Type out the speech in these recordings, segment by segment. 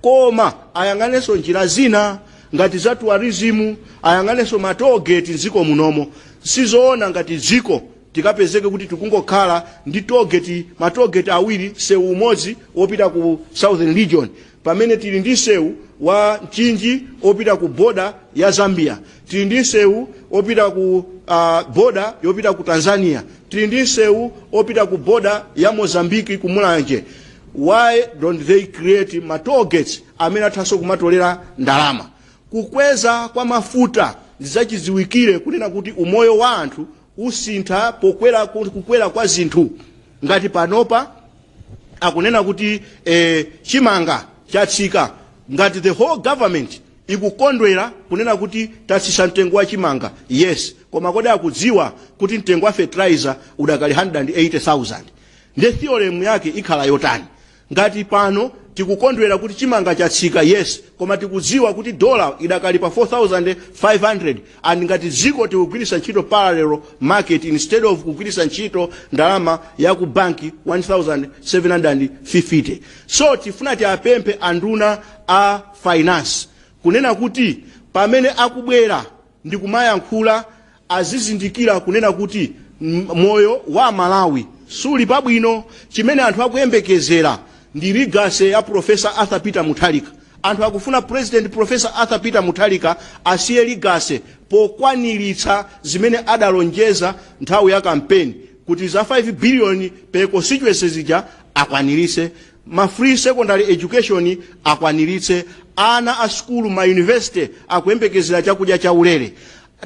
koma ayang'anenso njira zina ngati za tourism ayang'anenso ma toll gate mdziko munomo sizoona ngati dziko tikapezeke kuti tikungokhala ndi ma toll gate awiri sewu umodzi wopita ku southern region pamene tili ndi sewu wa mchinji opita ku boda ya zambia tili ndi sewu opita ku uh, boda yopita ku tanzania tili ndi sewu opita ku boda ya mozambiki ku mulanje why don't they create ma toll gates amene athanso kumatolera ndalama kukweza kwa mafuta ndizachidziwikire kunena kuti umoyo wa anthu usintha kukwera kwa zinthu ngati panopa akunena kuti eh, chimanga chatsika ngati the whole government ikukondwera kunena kuti tatsitsa mtengo wa chimanga yes koma kodi akudziwa kuti mtengo wa fertilizer udakali 180000 nde theorem yake ikhala yotani ngati pano tikukondwera kuti chimanga chatsika yes koma tikudziwa kuti dola idakali pa 4500 and ngati dziko tikugwiritsa ntchito parallel market instead of kugwiritsa ntchito ndalama ya ku banki 1750 so tifuna tiapemphe anduna a finance kunena kuti pamene akubwera ndikumayankhula azizindikira kunena kuti moyo wa amalawi suli pabwino. Chimene anthu akuyembekezera ndi legacy ya Professor Arthur Peter Mutharika. Anthu akufuna President Professor Arthur Peter Mutharika asiye legacy pokwaniritsa zimene adalonjeza nthawi ya kampeni kuti za 5 billion per constituency zija akwaniritse, ma free secondary education akwaniritse, ana a sukulu ma university akuyembekezera chakudya chaulere.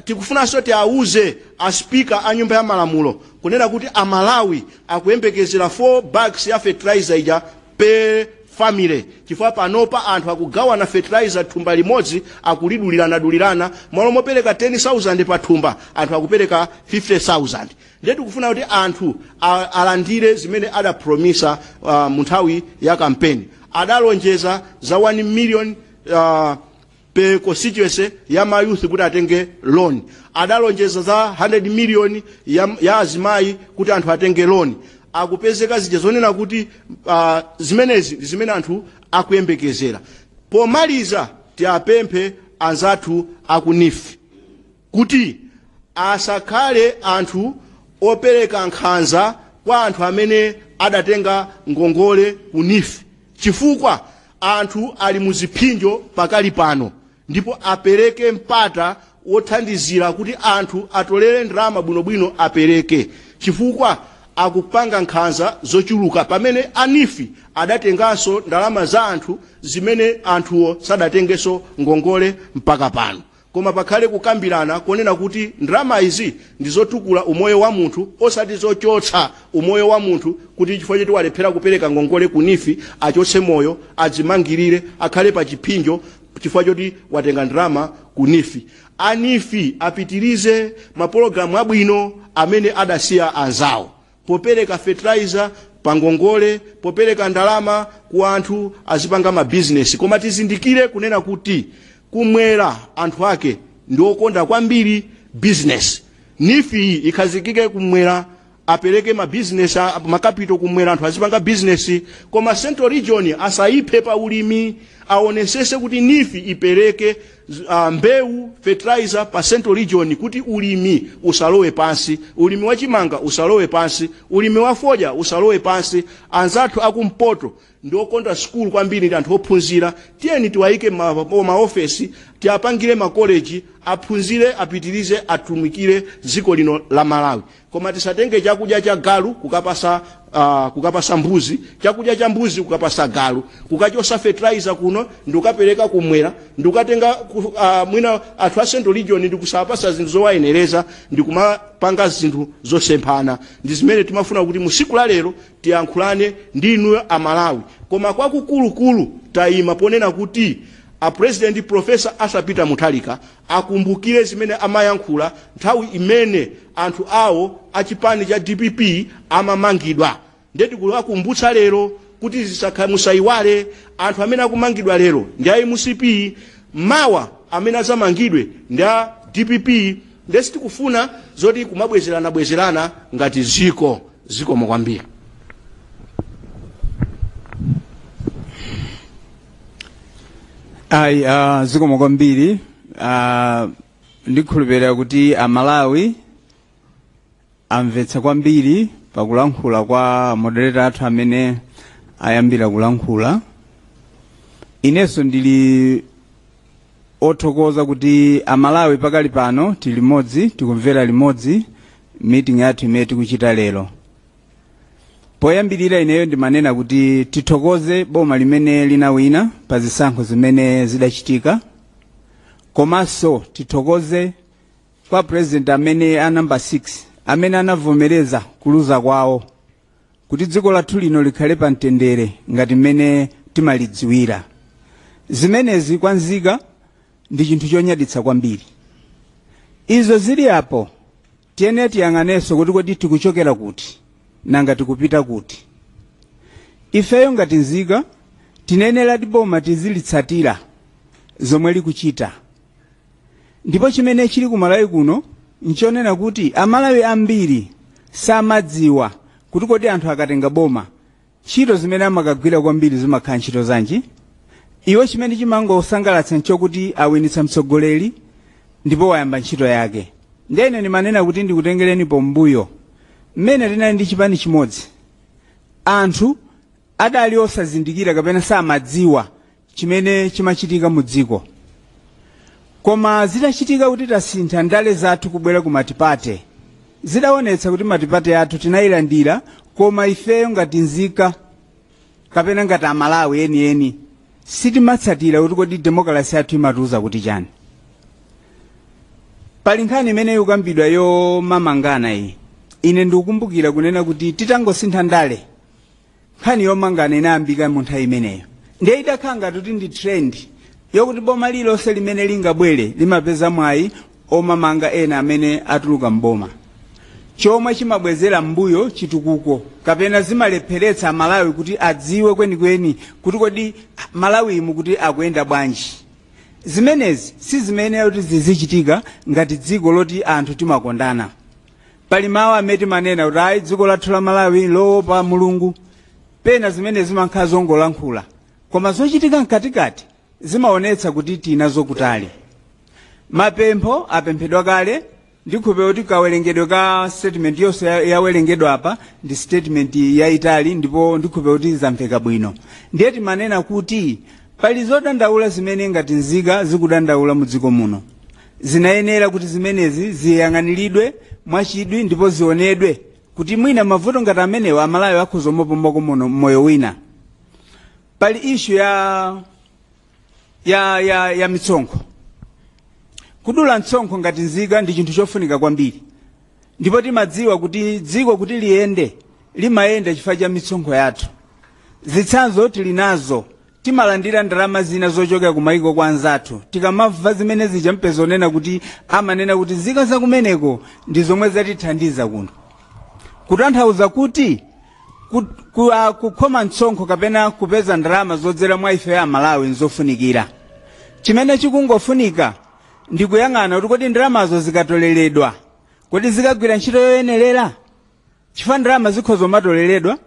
Tikufunanso tiauze a speaker a nyumba ya malamulo kunena kuti a Malawi akuyembekezera 4 bags ya fertilizer ija per family chifukwa panopa anthu akugawana fertilizer thumba limodzi akulidulirana dulirana malo mopereka 10,000 pa thumba anthu akupereka 50,000 ndiye tikufuna kuti anthu a- alandire zimene adapromisa uh, munthawi ya kampeni adalonjeza za 1 million uh, per constituency ya mayouth kuti atenge loan adalonjeza za 100 million ya, ya azimayi kuti anthu atenge loan akupezeka zija zonena kuti uh, zimenezi ndi zimene anthu akuyembekezera pomaliza tiapemphe anzathu aku NEEF kuti asakhale anthu opereka nkhanza kwa anthu amene adatenga ngongole ku NEEF chifukwa anthu ali mu ziphinjo pakali pano ndipo apereke mpata wothandizira kuti anthu atolere ndalama bwinobwino apereke chifukwa akupanga nkhanza zochuluka pamene a NEEF adatenganso ndalama za anthu zimene anthuwo sadatengenso ngongole mpaka pano koma pakhale kukambilana konena kuti ndalama izi ndizotukula umoyo wa munthu osati zochotsa umoyo wa munthu kuti chifukwa choti walephera kupereka ngongole ku NEEF achotse moyo adzimangilire akhale pa chiphinjo chifukwa choti watenga ndalama ku NEEF a NEEF apitilize mapologalamu abwino amene adasiya anzawo. popereka fertilizer pangongole, popereka ndalama ku anthu azipanga mabizinesi. Koma tizindikire kunena kuti kumwera anthu ake ndi okonda kwambiri bizinesi. NEEF iyi ikhazikike kumwera apereke mabizinesi a- makapito kumwera anthu azipanga bizinesi koma central region asayiphe pa ulimi aonesese kuti NEEF ipereke uh, mbewu fertilizer pa central region kuti ulimi usalowe pansi ulimi wa chimanga usalowe pansi ulimi wa fodya usalowe pansi anzathu akumpoto ndiokonda sukulu kwambiri ndi anthu ophunzira tiyeni tiwayike ma- ma- maofesi tiwapangire makoleji aphunzire apitirize atumikire dziko lino la malawi Koma tisatenge chakudya cha galu kukapasa uh, kukapasa mbuzi, chakudya cha mbuzi kukapasa galu, kukachosa fertilizer kuno ndikukapereka kumwera, ndikukatenga uh, mwina anthu a Central Region ndikusawapasa zinthu zowayenereza ndikumapanga zinthu zosemphana. Ndi zimene timafuna kuti musiku la lero tiyankhulane ndi inuyo a Malawi. Koma kwakukulukulu tayima ponena kuti a President Professor Arthur Peter Mutharika Akumbukire zimene amayankhula nthawi imene anthu awo a chipani cha dpp amamangidwa ndiye tikuwakumbutsa lero kuti zisakhale, musaiwale anthu amene akumangidwa lero ndi a mcp mawa amene adzamangidwe ndi a dpp ndiye sitikufuna zoti kumabwezeranabwezerana ngati dziko. Zikomo kwambiri. ayi uh, zikomo kwambiri uh, ndikhulupirira kuti amalawi amvetsa kwambiri pakulankhula kwa moderator athu amene ayambira kulankhula inenso ndili othokoza kuti amalawi pakali pano tili limodzi tikumvera limodzi meeting yathu imene tikuchita lero poyambirira ineyo ndimanena kuti tithokoze boma limene linawina pa zisankho zimene zidachitika komanso tithokoze kwa president amene a number 6 amene anavomereza kuluza kwawo kuti dziko lathu lino likhale pa mtendere ngati mmene timalidziwira zimenezi kwa nzika ndi chinthu chonyaditsa kwambiri izo zili apo Tiyene tiyang'anenso kuti kodi tikuchokera kuti, nanga tikupita kuti. Ifeyo ngati nzika tiyeneradi boma tizilitsatira zomwe likuchita. Ndipo chimene chili ku Malawi kuno nchonena kuti Amalawi ambiri samadziwa kuti kodi anthu akatenga boma Ntchito zimene amakagwira kwambiri zimakhala ntchito zanji? Iwo chimene chimangowasangalatsa nchokuti awinitsa mtsogoleri ndipo wayamba ntchito yake. Ndiye ine ndimanena kuti ndikutengereni pambuyo. Mmene tinali ndi chipani chimodzi, anthu adali osazindikira kapena samadziwa chimene chimachitika mu dziko koma zitachitika kuti tasintha ndale zathu kubwera ku matipate zidaonetsa kuti matipate athu tinayilandira koma ifeyo ngati nzika kapena ngati amalawi enieni sitimatsatira kuti kodi demokalasi yathu imatiuza kuti chani pali nkhani imene ikukambidwa yomamangana iyi ine ndikukumbukira kunena kuti titangosintha ndale nkhani yomangana inayambika mu nthawi imeneyo ndiye idakhala ngati kuti ndi trend yokuti boma lililonse limene lingabwere limapeza mwayi omamanga ena amene atuluka mboma chomwe chimabwezera mbuyo chitukuko kapena zimalepheretsa malawi kuti adziwe kwenikweni kuti kodi malawi muno kuti akuyenda bwanji zimenezi si zimene zoti zizichitika ngati dziko loti anthu timakondana pali mawu amene timanena kuti ayi dziko lathu la malawi lowopa mulungu pena zimenezi zimakhala zongolankhula koma zochitika mkatikati zimaonetsa kuti tinazo kutali mapempho apemphedwa kale ndikhulupira kuti kawerengedwe ka statement yonse ya- yawerengedwa apa ndi statement yayitali ndipo ndikhulupira kuti zamveka bwino ndiye timanena kuti pali zodandaula zimene ngati nzika zikudandaula mu dziko muno zinayenera kuti zimenezi ziyang'aniridwe mwachidwi ndipo zionedwe kuti mwina mavuto ngati amenewa amalawi akhoza kupumako m'moyo wina pali ishu ya ya ya, ya mitsonkho kudula mtsonkho ngati nzika ndi chinthu chofunika kwambiri ndipo timadziwa kuti dziko kuti liyende limayenda chifukwa cha mitsonkho yathu zitsanzo tili nazo Timalandira ndalama zina zochokera kumayiko kwa anzathu. Tikamamva zimene zija mupeza kunena kuti amanena kuti nzika zakumeneko ndi zomwe zatithandiza kuno. Kutanthauza kuti ku- ku- ah, kukhoma mtsonkho kapena kupeza ndalama zodzera mwa ife a Malawi nzofunikira. Chimene chikungofunika ndi kuyang'ana kuti kodi ndalamazo zikatoleredwa, kodi zikagwira ntchito yoyenerera? chifukwa ndalama zikhoza kumatoleredwa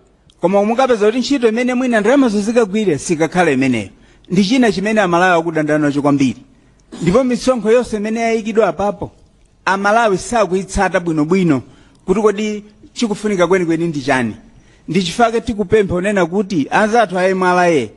koma mukapeza kuti ntchito imene mwina ndalamazo zikagwire sikakhala imeneyo ndi china chimene amalawi akudandana nacho kwambiri ndipo misonkho yonse imene yayikidwa apapo amalawi sakuyitsata bwinobwino kuti kodi chikufunika kwenikweni ndi chani ndi chifukwa tikupempha kunena kuti anzathu a mra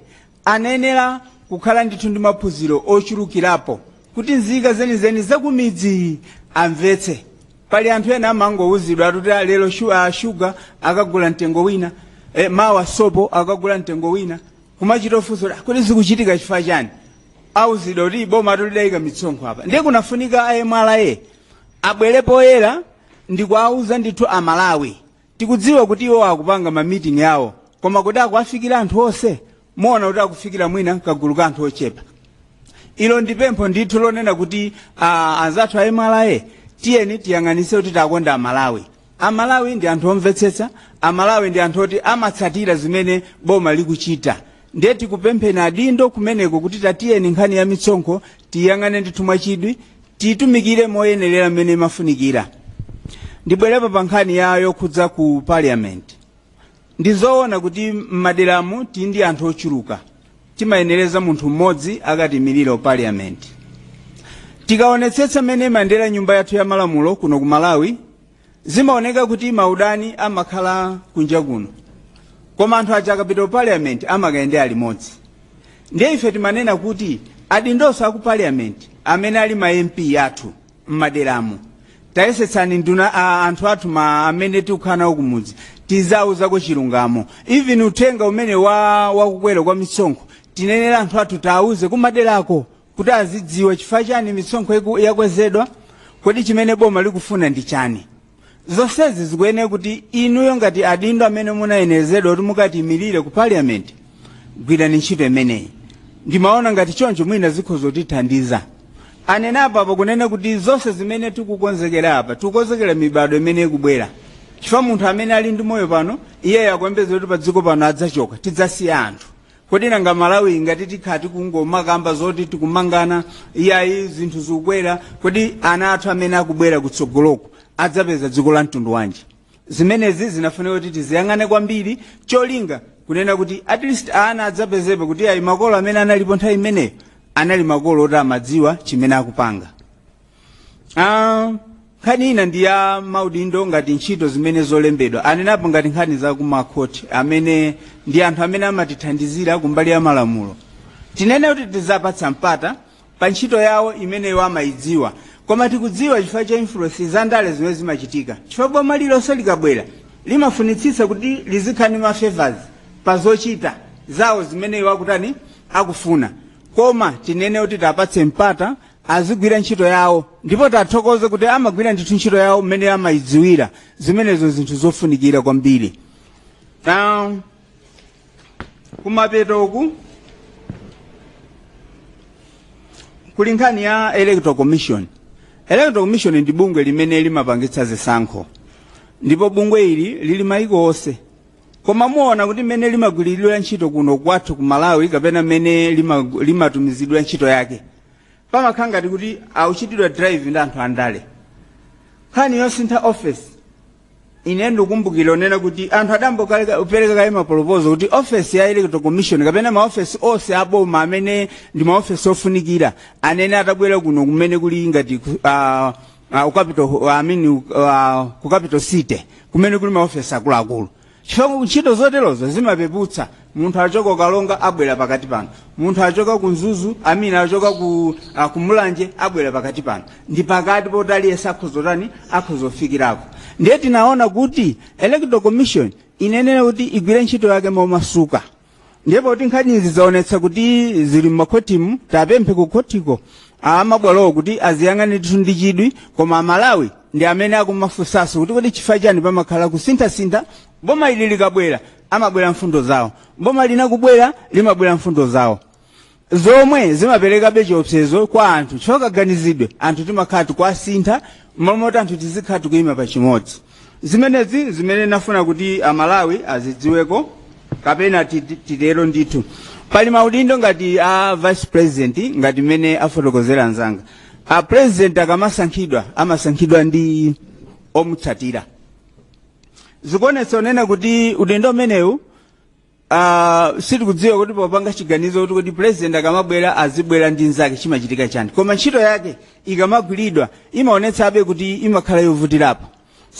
Anayenera kukhala ndithu ndi maphunziro ochulukirapo kuti nzika zenizeni zakumidzi amvetse. Pali anthu ena amangowuzidwa kuti "Ah, lero shu, ah, shuga akagula mtengo wina eh, mawa sopo akagula mtengo wina kumachita kufunsa kuti, "Ah, kodi zikuchitika chifukwa chani auzidwa kuti boma lathu lidayika mitsonkho apa ndiye kunafunika a mra abwere poyera ndikuwauza ndithu amalawi Tikudziwa kuti iwo akupanga ma meeting awo koma kodi akuwafikira anthu onse? Muona kuti akufikira mwina kagulu ka anthu ochepa. Ilo ndi pempho ndithu lonena kuti ah, anzathu a MRA tiyeni tiyang'anitse kuti takonda Amalawi. Amalawi ndi anthu omvetsetsa, Amalawi ndi anthu oti amatsatira zimene boma likuchita. Ndiye tikupempheni adindo kumeneko kuti tatiyeni nkhani ya mitsonkho tiyang'ane ndithu mwachidwi tiitumikire moyenerera mmene imafunikira ndibwerepo pa nkhani ya yokhudza ku parliament ndi zoona kuti m'maderamu tili ndi anthu ochuluka timayenereza munthu mmodzi akatimirire ku parliament tikaonetsetsa mmene imayendera nyumba yathu ya malamulo kuno ku malawi Zimaoneka kuti maudani amakhala kunja kuno koma anthu aja akapita ku parliament amakayendera limodzi ndiye ife timanena kuti adindonso aku parliament amene ali ma mp athu mmaderamu tayesetsani anthu athu amene tikukhala nawo kumudzi tizauzako chilungamo even uthenga umene wa wakukwera kwa misonkho tiyenera anthu athu tiauze kumaderako kuti azidziwa chifukwa chani misonkho iku- yakwezedwa kodi chimene boma likufuna ndi chani zonsezi zikuyenera kuti inuyo ngati adindo amene munayenerezedwa kuti mukatimirire ku parliament gwirani ntchito imeneyi ndimaona ngati choncho mwina zikhoza kutithandiza anena apa pakunena kuti zonse zimene tikukonzekera apa tikukonzekera mibadwo imene ikubwera chifukwa munthu amene ali ndi moyo pano iyeyo akuyembeza kuti pa dziko pano adzachoka tidzasiya anthu kodi nanga malawi ngati tikhala tikungomakamba zoti tikumangana iyayi zinthu zikukwera kodi ana athu amene akubwera kutsogoloku adzapeza dziko la mtundu wanji zimenezi zinafunika kuti tiziyang'ane kwambiri cholinga kuonena kuti at least ana adzapezepo kuti ayi makolo amene analipo nthawi imeneyo anali makolo oti amadziwa chimene akupanga Ah, nkhani ina ndi ya maudindo ngati ntchito zimene zolembedwa anenapo ngati nkhani za kumakhoti amene ndi anthu amene amatithandizira kumbali ya malamulo tinene kuti tiziwapatsa mpata pa ntchito yawo imene iwo amayidziwa koma tikudziwa chifukwa cha influence za ndale zimene zimachitika chifukwa boma lilonse likabwera limafunitsitsa kuti lizikhala ndi mafavors pa zochita zawo zimene iwo akutani akufuna koma tinene kuti tiwapatse mpata azigwira ntchito yawo ndipo tiwathokoze kuti amagwira ndithu ntchito yawo mmene amayidziwira zimenezo zinthu zofunikira kwambiri na kumapeto uku kuli nkhani ya electoral commission electoral commission ndi bungwe limene limapangitsa zisankho ndipo bungwe ili lili maiko onse koma muona kuti mmene limagwiritsidwa ntchito kuno kwathu ku malawi kapena mmene lima- limatumizidwa ntchito yake pamakhala ngati kuti akuchitidwa drive ndi anthu andale nkhani yosintha ofesi ine ndikukumbukira kunena kuti anthu adayambapo apereka kale maproposal kuti ofesi ya electoral commission kapena maofesi onse aboma amene ndi maofesi ofunikira anene atabwera kuno kumene kuli ngati ku- ah, ah, ku capital- ah, I mean, ah, ku capital city kumene kuli maofesi akuluakulu chifukwa ntchito zoterozo zimapeputsa munthu achoka ku karonga abwera pakati pano munthu achoka ku mzuzu I mean achoka ku ah, kumulanje abwera pakati pano ndi pakati poti aliyense akhoza kutani akhoza kufikirako ndiye tinaona kuti electoral commission iyenera kuti igwire ntchito yake momasuka ndiye poti nkhanizi zaonetsa kuti zili m'makhotimu tiwapemphe ku khotiko amabwalowo kuti aziyang'ane ndithu ndi chidwi koma amalawi ndi amene akumafunsanso kuti kodi chifukwa chani pamakhala kusinthasintha boma ili likabwera amabwera mfundo zawo boma lina kubwera limabwera mfundo zawo zomwe zimaperekabe chiopsezo kwa anthu chokaganizidwe anthu timakhala tikuwasintha momoti anthu tizikhala tikuyima pa chimodzi zimenezi zimene ndimafuna kuti amalawi azidziweko kapena titi- titero ndithu pali maudindo ngati a vice president ngati mmene afotokozera anzanga a president akamasankhidwa amasankhidwa ndi omutsatira zikuonetsa kunena kuti udindo umenewu Ah, sitikudziwa kuti popanga chiganizo kuti president akamabwera azibwera ndi nzake chimachitika chani koma ntchito yake ikamagwiridwa imaonetsabe kuti imakhala yovutirapo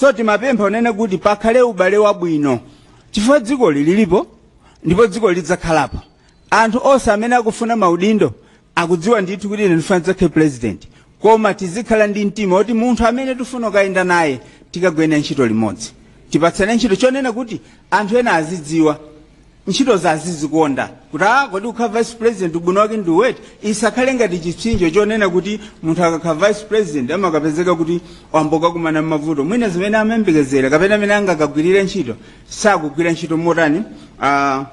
so timapempha kunena kuti pakhale ubale wabwino chifukwa dzikoli lilipo ndipo dzikoli lidzakhalapo anthu onse amene akufuna maudindo akudziwa ndithu kuti ine ndifuna ndidzakhale president koma tizikhala ndi mtima kuti munthu amene tifuna kukayenda naye tikagwira ntchito limodzi tipatsane ntchito chonena kuti anthu ena azidziwa ntchitozo azizikonda kuti a kodi ukhala vice president ubwino wake ndi woti isakhale ngati chipsinjo chonena kuti munthu akakhala vice president amakapezeka kuti wangokakumana ndi mavuto mwina zimene amayembekezera kapena amene angakagwirire ntchito sakugwira ntchito motani ah,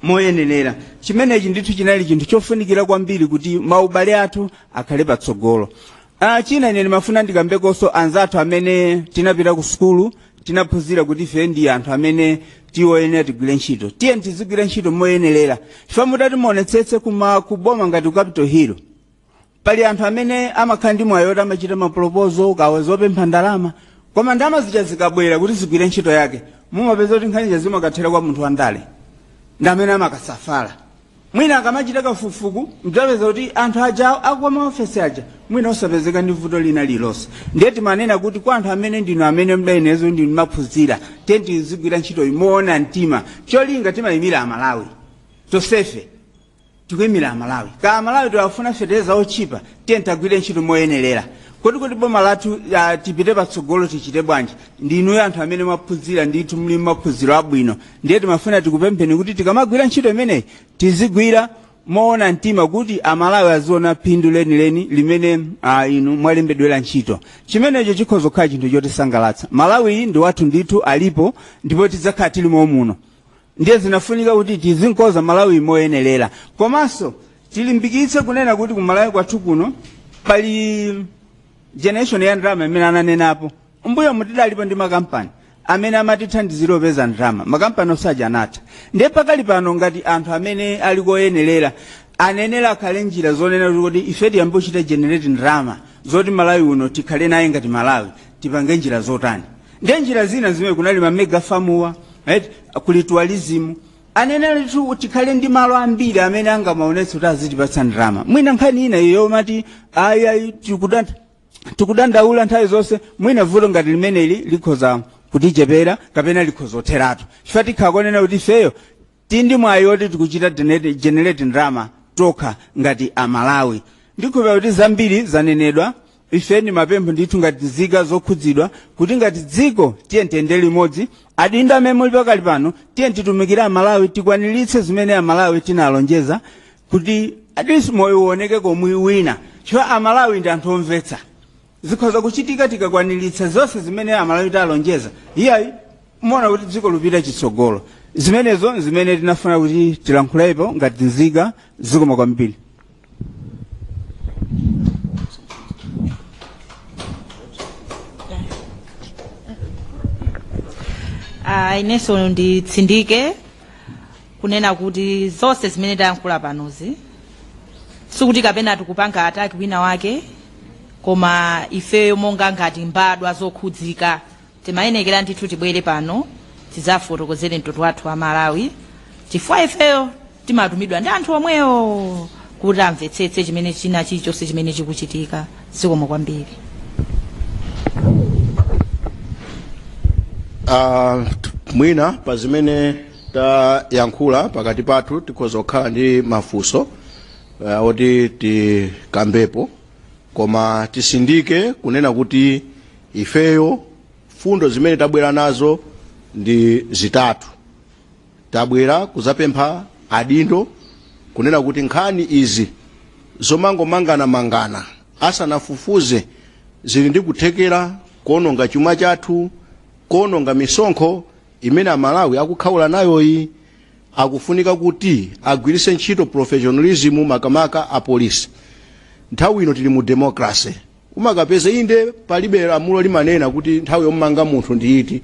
moyenerera chimenechi ndithu chinali chinthu chofunikira kwambiri kuti maubale athu akhale patsogolo ah, china ine ndimafuna ndikambekonso anzathu amene tinapita ku sukulu tinaphunzira kuti ife ndi anthu amene tili oyenera tigwire ntchito tiyeni tizigwira ntchito moyenerera chifukwa mutati muonetsetse kuma kuboma ngati ku capital hill pali anthu amene amakhala ndi mwayi woti amachita mapolopozo kaya zopempha ndalama koma ndalama zija zikabwera kuti zigwire ntchito yake mumapeza kuti nkhaniza zimakathera kwa munthu wandale ndi amene amakasafala mwina akamachita kafukufuku mudzapeza kuti anthu aja a m'maofesi aja mwina osapezeka ndi vuto lina lilonse ndiye timanena kuti kwa anthu amene ndinu amene muli nazo ndinu ophunzira tiyeni tizigwira ntchito moona mtima cholinga timayimira amalawi tosefe tikuimira amalawi ka amalawi akufuna feteleza otchipa tiye tigwire ntchito moyenerera kodi kuti boma lathu uh, tipite patsogolo tichite bwanji ndi inuyo anthu amene mwaphunzira ndithu muli maphunziro abwino ndiye timafuna tikupempheni kuti tikamagwira ntchito imeneyi tizigwira moona mtima kuti amalawi aziona phindu lenileni limene uh, inu mwalembedwera ntchito chimenecho chikhoza kukhala chinthu chotisangalatsa malawi ndi wathu ndithu alipo ndipo tidzakhala tili momuno ndiye zinafunika kuti tizimkonza malawi moyenerera komanso tilimbikitse kunena kuti ku malawi kwathu kuno pali generation ya ndalama imene amanenapo mbuyomu tidalipo ndi makampani amene amatithandizira kupeza ndalama makampani onse aja anatha ndiye pakali pano ngati anthu amene ali oyenerera ayenera pakhale njira zonena kuti ife tiyambe kuchita generate ndalama zoti malawi uno tikhale naye ngati malawi tipange njira zotani Ndiye njira zina zimene kuli ma mega famuwa kuli tourism anenetu tikhale ndi malo ambiri amene angamaonetsa kuti azitipatsa ndalama mwina nkhani ina iyo mati ayi ayi tikudanda tikudandaula nthawi zonse mwina vuto ngati limeneli likhoza kutichepera kapena likhoza kutheratu chifukwa tikhoza kunena kuti ifeyo Tili ndi mwayi woti tikuchita generate ndalama tokha ngati a Malawi. Ndikhulupira kuti zambiri zanenedwa. Ife ndi mapempho ndithu ngati nzika zokhudzidwa kuti ngati dziko tiyeni tiyende limodzi. Adindo amene muli pakali pano tiye titumikire a Malawi tikwaniritse zimene a Malawi tinalonjeza kuti at least moyo uonekeko mwina. Coz a Malawi ndi anthu omvetsa. Zikadza kuchitika tikakwaniritsa zonse zimene Amalawi talonjeza. Iyayi, muona kuti dziko likupita chitsogolo. Zimenezo n'zimene tinafuna kuti tilankhulepo ngati nzika zikomo kwambiri. Ah, inenso nditsindike kunena kuti zonse zimene tayankhula panozi sikuti kapena tikupanga attack wina wake koma ifeyo monga ngati mbadwa zokhudzika timayenekera ndithu tibwere pano tidzafotokozere mtundu wathu wa amalawi chifukwa ifeyo timatumidwa ndi anthu omwewo kuti amvetsetse chimene china chilichonse chimene chikuchitika zikomo kwambiri Uh, mwina pa zimene tayankhula pakati pathu tikhoza kukhala ndi mafunso uh, oti tikambepo koma titsindike kunena kuti ifeyo mfundo zimene tabwera nazo ndi zitatu tabwera kudzapempha adindo kunena kuti nkhani izi zomangomangamanga asanafufuze zili ndi kuthekera kuononga chuma chathu kuononga misonkho imene amalawi akukhaula nayoyi. akufunika kuti agwiritse ntchito professionalism makamaka a police. nthawi ino tili mu democracy umakapeza inde palibe lamulo limanena kuti nthawi yomanga munthu ndi iti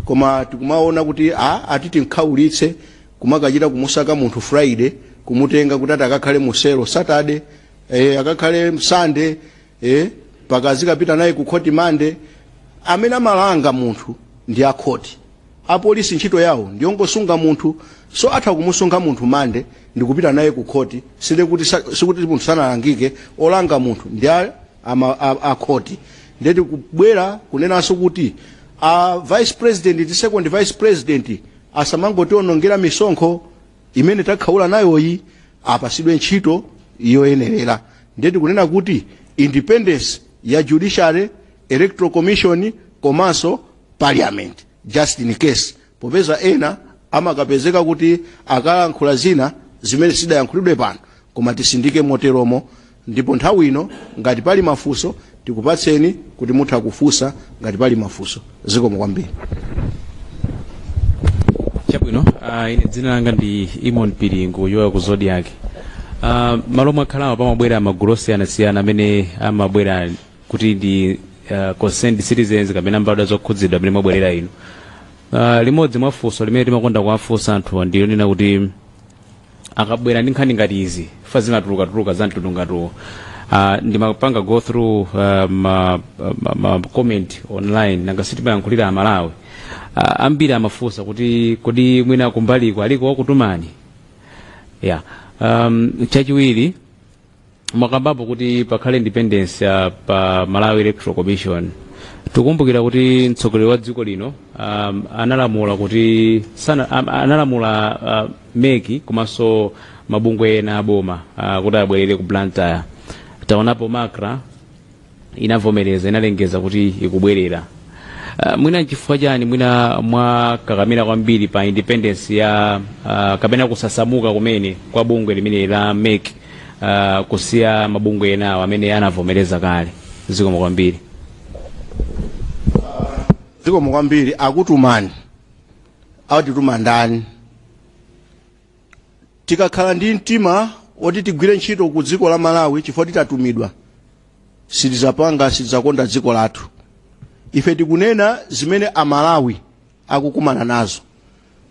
koma tikumaona kuti a ati timkhaulitse kumakachita kumusaka munthu friday kumutenga kuti ati akakhale mu cell saturday eh, akakhale sunday eh mpaka azikapita naye ku khoti monday amene amalanga munthu ndi akhoti apolisi ntchito yawo ndiyongosunga munthu so atha kumusunga munthu monday ndikupita naye ku khoti sinde kuti sa- sikuti munthu samalangika olanga munthu ndi a- ama- a- akhoti nde tikubwera kunenanso kuti a vice president ndi second vice president asamangotionongera misonkho imene takhaula nayoyi apatsidwe ntchito yoyenerera ndiye tikunena kuti independence ya judiciary electoral commission komanso parliament just in case popeza ena amakapezeka kuti akalankhula zina zimene sidayankhulidwe pano koma titsindike moteromo Ndipo nthawi ino ngati pali mafunso tikupatseni kuti mutha kufunsa ngati pali mafunso. Zikomo kwambiri. Chabwino, uh, ine dzina langa ndi Imon Piringu wochokera ku Zodiac. Uh, malo omwe mwakhalawa pamabwera magulu osiyanasiyana amene amabwera akuti ndi uh, concerned citizens kapena mbadwa zokhudzidwa mmene mwabwerera ino. Uh, limodzi mwa funso limene timakonda kuwafunsa anthu ndilonena kuti akabwera ndi nkhani ngati izi ife zimatuluka tuluka za mtundu ngati uno uh, ndimapanga go through uh, ma, ma, ma comment online nanga sitimayankhulira amalawi uh, ambiri amafunsa kuti kodi mwina kumbaliko aliko wakutumani yeah. um, chachiwiri mwakambapo kuti pakhale independence ya pa malawi electoral commission tikukumbukira kuti mtsogoleri wa dziko lino um, analamula kuti sana, am- analamula uh, meki komanso mabungwe ena aboma uh, kuti abwerere ku Blantyre taonapo macra inavomereza inalengeza kuti ikubwerera uh, mwina nchifukwa chani mwina mwakakamira kwambiri pa independence ya uh, kapena kusasamuka kumene kwa bungwe limene la mek uh, kusiya mabungwe enawo amene anavomereza kale zikomo kwambiri zikomo kwambiri akutumani akutituma ndani tikakhala ndi mtima woti tigwire ntchito ku dziko la malawi chifukwa titatumidwa sitizapanga sitizakonda dziko lathu ife tikunena zimene amalawi akukumana nazo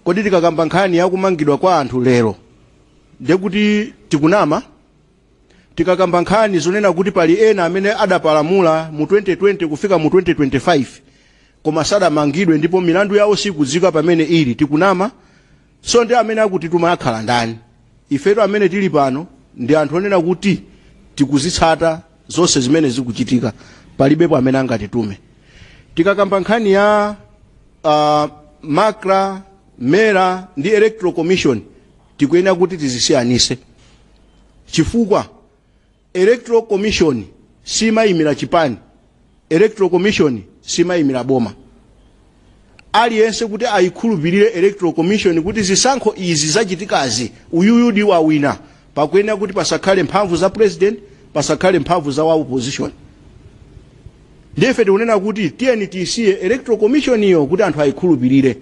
kodi tikakamba nkhani yakumangidwa kwa anthu lero ndiye kuti tikunama tikakamba nkhani zonena kuti pali ena amene adapalamula mu 2020 kufika mu 2025 koma sadamangidwe ndipo milandu yawo sikudziwika pamene ili tikunama so ndi amene akutituma akhala ndani ifetu amene tili pano ndi anthu onena kuti tikuzitsata zonse zimene zikuchitika palibepo amene angatitume tikakamba nkhani ya uh, macra mera ndi electoral commission tikuyenera kuti tizisiyanise chifukwa Electoral Commission simayimira chipani, Electoral Commission simayimira boma. Aliyense kuti ayikhulupirire Electoral Commission kuti zisankho izi zachitikazi uyuyu ndi wawina pakuyenera kuti pasakhale mphamvu za president, pasakhale mphamvu za wa opposition. Ndiye ife tikunena kuti tiyeni tisiye Electoral Commission iyo kuti anthu ayikhulupirire.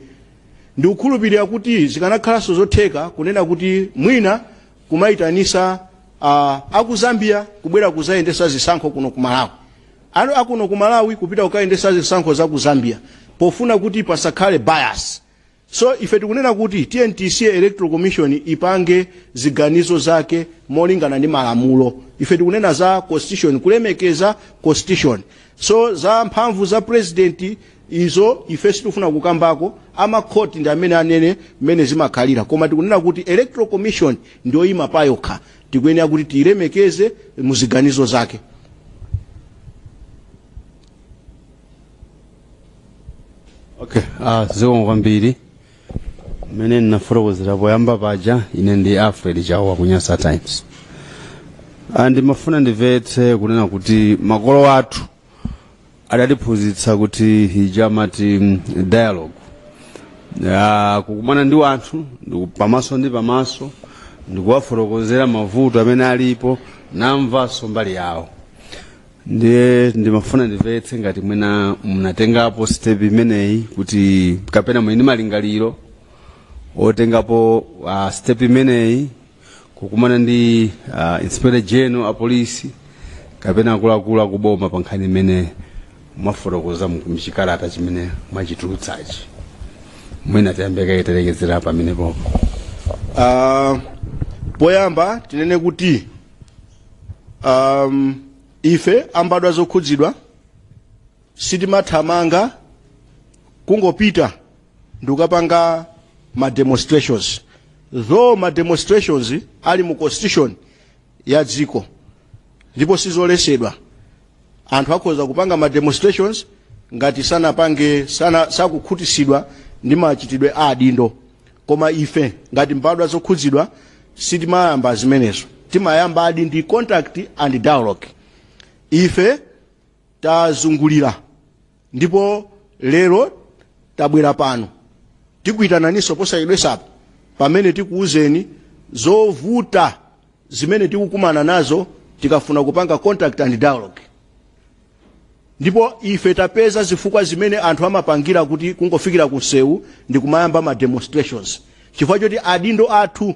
Ndikukhulupirira kuti zikanakhalanso zotheka kunena kuti mwina kumaitanisa uh, aku zambia kubwera kuzayendesa zisankho kuno ku malawi kuno akuno ku malawi kupita kukayendesa zisankho za ku zambia pofuna kuti pasakhale bias so ife tikunena kuti tntc electoral commission ipange ziganizo zake molingana ndi malamulo ife tikunena za constitution kulemekeza constitution so za mphamvu za president izo ife sitikufuna kukambako amakhoti ndi amene anene mmene zimakhalira koma tikunena kuti electoral commission ndiyoyima payokha tikuyenera kuti tiyilemekeze muziganizo zake okay ah zikomo kwambiri mmene ndinafotokozera poyamba paja ine ndi alfred chawa ku nyasa times Ah, ndimafuna ndimvetse kunena kuti makolo athu adatiphunzitsa kuti chija amati mm, dialogue Ah, kukumana ndi wanthu ndiku- pamaso ndi pamaso ndikuwafotokozera mavuto amene alipo ndi kumvanso mbali yawo ndiye ndimafuna ndimvetse ngati mwina munatengapo step imeneyi kuti kapena muli ndi malingaliro otengapo uh, step imeneyi kukumana ndi uh, inspector general a polisi kapena akuluakulu akuboma pa nkhani imene mwafotokoza mu- mchikalata chimene mwachitulutsachi mwina tiyambe kaye talekezera pamenepopo Ah, poyamba tinene kuti um, ife ambadwa zokhudzidwa sitimathamanga kungopita ndikukapanga ma demonstrations though ma demonstrations ali mu constitution ya dziko ndipo sizolesedwa anthu akhoza kupanga ma demonstrations ngati sanapange sana, sakukhutitsidwa ndi machitidwe a adindo koma ife ngati mbadwa zokhudzidwa sitimayamba zimenezo timayamba adi ndi contact and dialogue ife tazungulira ndipo lero tabwera pano tikuitananinso posachedwesapo pamene tikuwuzeni zovuta zimene tikukumana nazo tikafuna kupanga contact and dialogue ndipo ife tapeza zifukwa zimene anthu amapangira kuti kungofikira ku msewu ndikumayamba ma demonstrations chifukwa choti adindo athu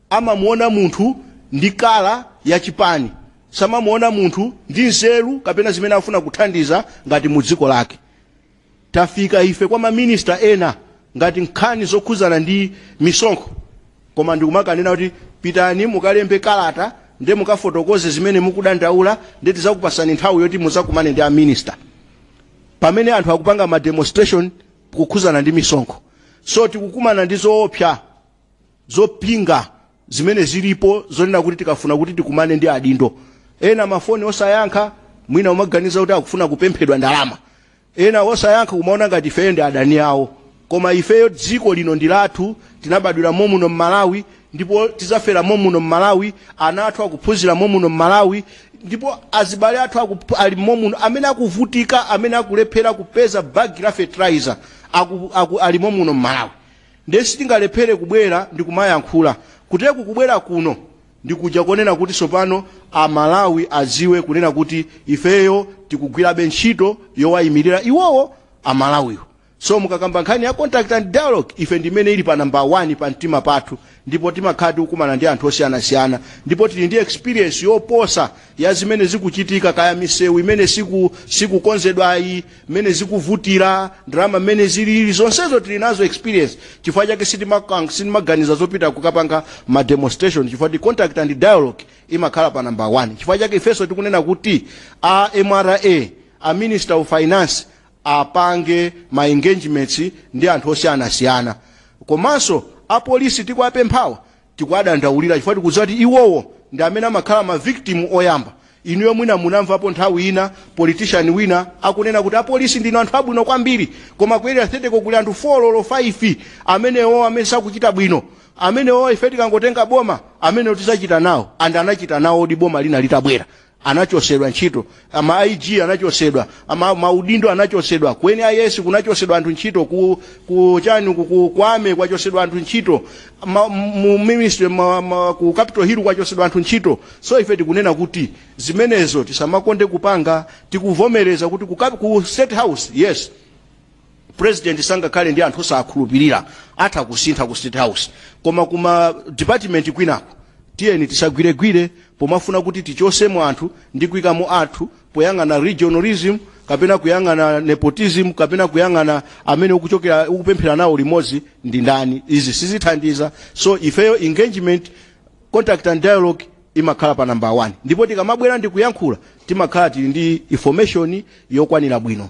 amamuona munthu ndi kala ya chipani samamuona munthu ndi nzeru kapena zimene afuna kuthandiza ngati mu dziko lake tafika ife kwa maminista ena ngati nkhani zokhuzana ndi misonkho koma ndikumakanena kuti pitani mukalembe kalata nde mukafotokoze zimene mukudandaula nde tizakupasani nthawi yoti muzakumane ndi aminista pamene anthu akupanga ma demonstrations kukhuzana ndi misonkho so tikukumana ndi zoopsa zopinga zimene zilipo zonena kuti tikafuna kuti tikumane ndi adindo ena mafoni osayankha mwina umaganiza kuti akufuna kupemphedwa ndalama ena osayankha kumaona ngati ifeyo ndi adani awo koma ifeyo dziko lino ndi lathu tinabadwira momuno mmalawi ndipo tizafera momuno mmalawi ana athu akuphunzira momuno mmalawi ndipo azibale athu akup- ali momuno amene akuvutika amene akulephera kupeza bagi la fertilizer aku, aku, ali momuno mmalawi Ndiye sitingalephere kubwera ndi kumayankhula. Kutereku kubwera kuno ndi kuja konena kuti tsopano a Malawi adziwe kunena kuti ifeyo tikugwirabe ntchito yowayimirira iwowo a Malawiwo. So mukakamba nkhani ya contact and dialogue ife ndi imene ili pa number one pa mtima pathu ndipo timakhala tikukumana ndi anthu osiyanasiyana ndipo tili ndi experience yoposa ya zimene zikuchitika kaya misewu imene siku sikukonzedwayi mmene zikuvutira ndalama mmene zilili zonsezo tili nazo experience chifukwa chake sitimakang- sitimaganiza zopita kukapanga ma demonstration chifukwa ti contact and dialogue imakhala pa number 1 chifukwa chake ifenso tikunena kuti a mra a minister of finance apange ma engagements ndi anthu osiyanasiyana komanso apolisi tikuwapemphawa tikuwadandaulira chifukwa tikudziwa kuti iwowo ndi amene amakhala ma victim oyamba inuyo mwina munamvapo nthawi ina politician wina akunena kuti apolisi ndinu anthu abwino kwambiri koma ku Area 30-ko kuli anthu 4 olo 5 amenewo amene sakuchita bwino amenewo ife tikangotenga boma amenewo tidzachita nawo and anachita nawodi boma lina litabwera anachosedwa ntchito a ma IG anachosedwa ama maudindo anachosedwa ku NIS kunachosedwa anthu ntchito ku ku chani ku, ku kwame kwachosedwa anthu ntchito ma, mu ministry ma, ma, ku capital hill kwachosedwa anthu ntchito so ife tikunena kuti zimenezo tisamakonde kupanga tikuvomereza kuti ku, Cap- ku state house yes president sangakhale ndi anthu osakhulupirira atha kusintha ku state house koma kuma department kwinako tiyeni tisagwiregwire pomafuna kuti tichosemo anthu ndi kuikamo anthu poyang'ana regionalism kapena kuyang'ana nepotism kapena kuyang'ana amene ukuchokera ukupemphera nawo limodzi ndi ndani izi sizithandiza so ifeyo engagement contact and dialogue imakhala pa number 1 ndipo tikamabwera ndi kuyankhula timakhala tili ndi information yokwanira bwino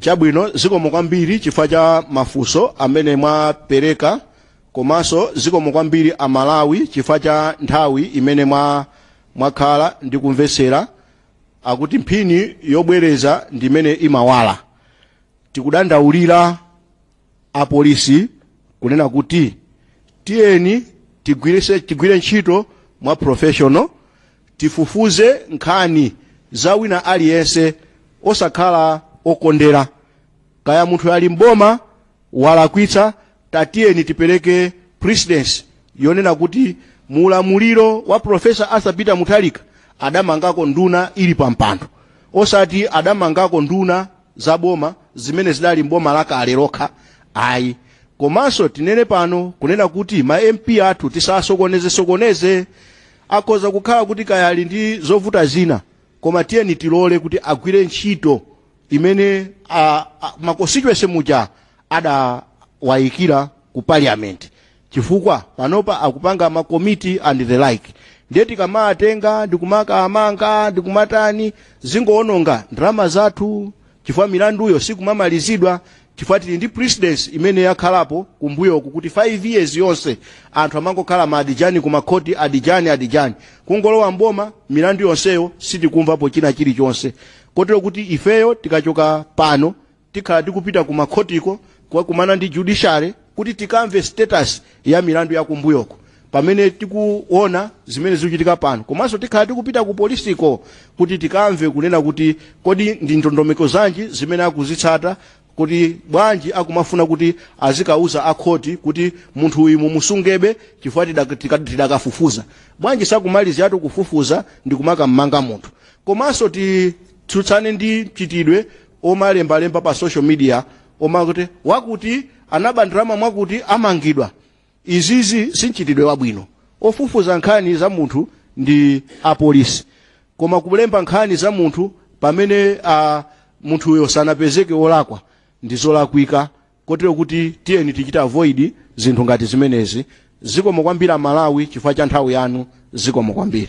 chabwino zikomo kwambiri chifukwa cha mafunso amene mwapereka komanso zikomo kwambiri amalawi chifukwa cha nthawi imene mwa mwakhala ndi kumvetsera akuti mphini yobwereza ndi imene imawala tikudandaulira apolisi kunena kuti tiyeni tigwire ntchito mwa professional tifufuze nkhani za wina aliyense osakhala okondera kaya munthu ali mboma walakwitsa tatiyeni tipereke precedence yonena kuti mu ulamuliro wa profesa arthur peter mutharika adamangako nduna ili pampando osati adamangako nduna za boma zimene zidali mboma lakale lokha ayi komanso tinene pano kunena kuti ma mp athu tisasokoneze sokoneze akhoza kukhala kuti kaya ali ndi zovuta zina koma tiyeni tilole kuti agwire ntchito imene a, a, ma constituents aja adawayikira ku parliament chifukwa panopa akupanga ma komiti and the like ndiye tikamawatenga ndikumakawamanga ndikumatani zingowononga ndalama zathu chifukwa milanduyo sikumamalizidwa chifukwa tili ndi precedence imene yakhalapo kumbuyoku kuti 5 years yonse anthu amangokhala ma adijani ku makhoti adijani adijani kungolowa mboma milandu yonseyo sitikumvapo china chilichonse kotero kuti ifeyo tikachoka pano tikhala tikupita ku makhotiko kukakumana ndi judiciary kuti tikamve status ya milandu yakumbuyoko pamene tikuona zimene zikuchitika pano komanso tikhala tikupita ku polisiko kuti tikamve kunena kuti kodi ndi ndondomeko zanji zimene akuzitsata kuti bwanji akumafuna kuti azikawauza akhoti kuti munthu uyu mumusungebe chifukwa tidak- tika- tidakafufuza bwanji sakumaliziratu kufufuza ndi kukam'manga munthu komanso titsutsane ndi mchitidwe omalembalemba pa social media omakuti wakuti anaba ndalama mwakuti amangidwa izizi si mchitidwe wabwino ofufuza nkhani za munthu ndi apolisi koma kulemba nkhani za munthu pamene a munthuyo sanapezeke wolakwa ndi zolakwika kotero kuti tiyeni tichite avoid zinthu ngati zimenezi zikomo kwambiri amalawi chifukwa cha nthawi yanu zikomo kwambiri